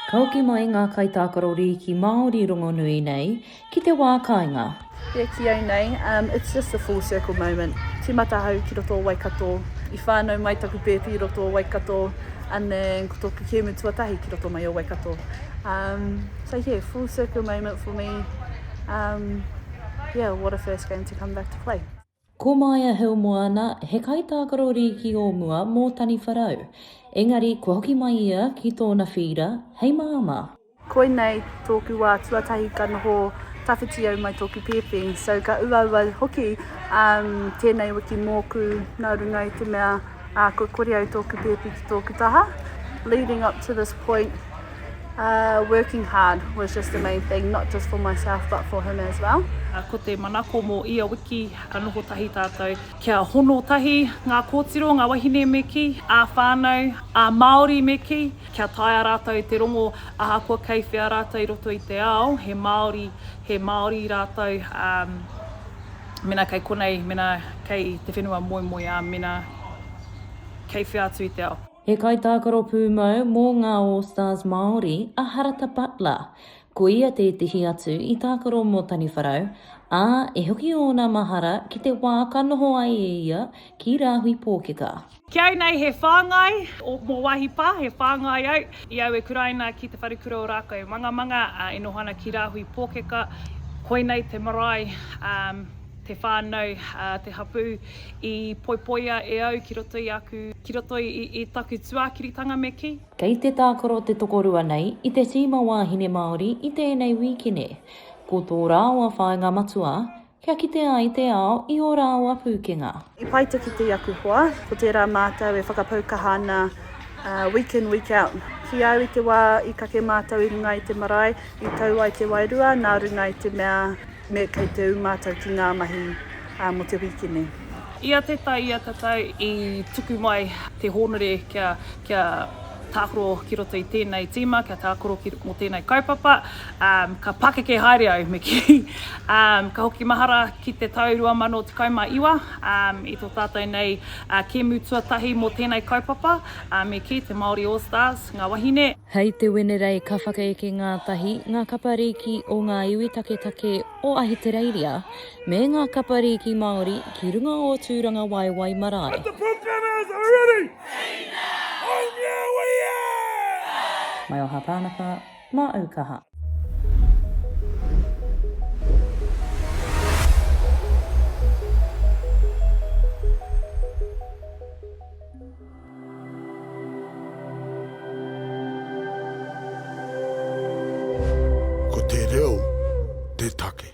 Ka hoki mai ngā kaitākaro rīki Māori rongonui nei ki te wā kāinga. Kia kī au nei, umm, it's just a full circle moment. Tīmata ahau ki roto o Waikato, i whānau mai taku pēpi i roto o Waikato, and then ko tōku kēmu tuatahi ki roto mai o Waikato. Umm, so yeah, full circle moment for me, umm, yeah, what a first game to come back to play. Ko Maia Heumoana, he kaitākaro rīki o mua mō Taniwharau. Engari kua hoki mai ia ki tōna whīra hei māmā. Koinei tōku wā tuatahi ka noho tawhiti au mai tōku pēpi. So ka uaua hoki tēnei wiki mōku nā runga i te mea. Ā, kua kore au tōku pēpi ki tōku taha. Leading up to this point, uh, working hard was just the main thing, not just for myself but for him as well. Ā, ko te manako mō ia wiki, ka noho tahi tātou kia hono tahi ngā kōtiro, ngā wahine me kī, ā-whānau, ā-Māori me kī, kia taea rātou te rongo ahakoa kei whea rātou i roto i te ao, he Māori, he Māori rātou, ā, Mena kei konei, mena kei te whenua moemoeā, mena kei whea atu i te ao. He kaitākaro pūmau mō ngā All Stars Māori a Harata Butler. Ko ia tētehi atu i tākaro mō Taniwharau, ā, e hoki ōna mahara ki te wā ka noho ai e ia ki Rāhui Pōkeka. Ki au nei he whāngai, mō wāhi pā he whāngai au, i aue kuraina ki Te Wharekura o Rākau Mangamanga e noho ana ki Rāhui Pōkeka, koinei te marae, te whānau, te hapū i poipoia e au ki roto i aku, ki roto i taku tuākiritanga me kī. Kei te tākaro te tokorua nei i te tīma wāhine Māori i tēnei wīkine. Ko tō rāua whāinga matua, Kia kite ai te ao i ō rāua pūkenga. I pai te kite i aku hoa, ko tērā mātou e whakapau kaha ana week in, week out. Ki au i te wā i kake mātou i runga i te marae, i tau ai te wairua nā runga i te mea me kei te ū mātou ki ngā mahi mō te wīkine. Ia te tai ia te tau i tuku mai te hōnore kia tākaro ki roto i tēnei tīma, kia tākaro mō tēnei kaupapa, Ka pakeke haere au, me kī. Ka hoki mahara ki te tau 2019, i tō tātou nei kēmu tuatahi mō tēnei kaupapa, me kī, te Māori All Stars, ngā wahine. Hei te Wenerei ka whakaeke ngātahi ngā kapa rīki o ngā iwi taketake o Ahitereiria me ngā kapa rīki Māori ki runga o Tūrangawaewae marae. Mai o Hapānaka, Mā au kaha. Ko te reo te take.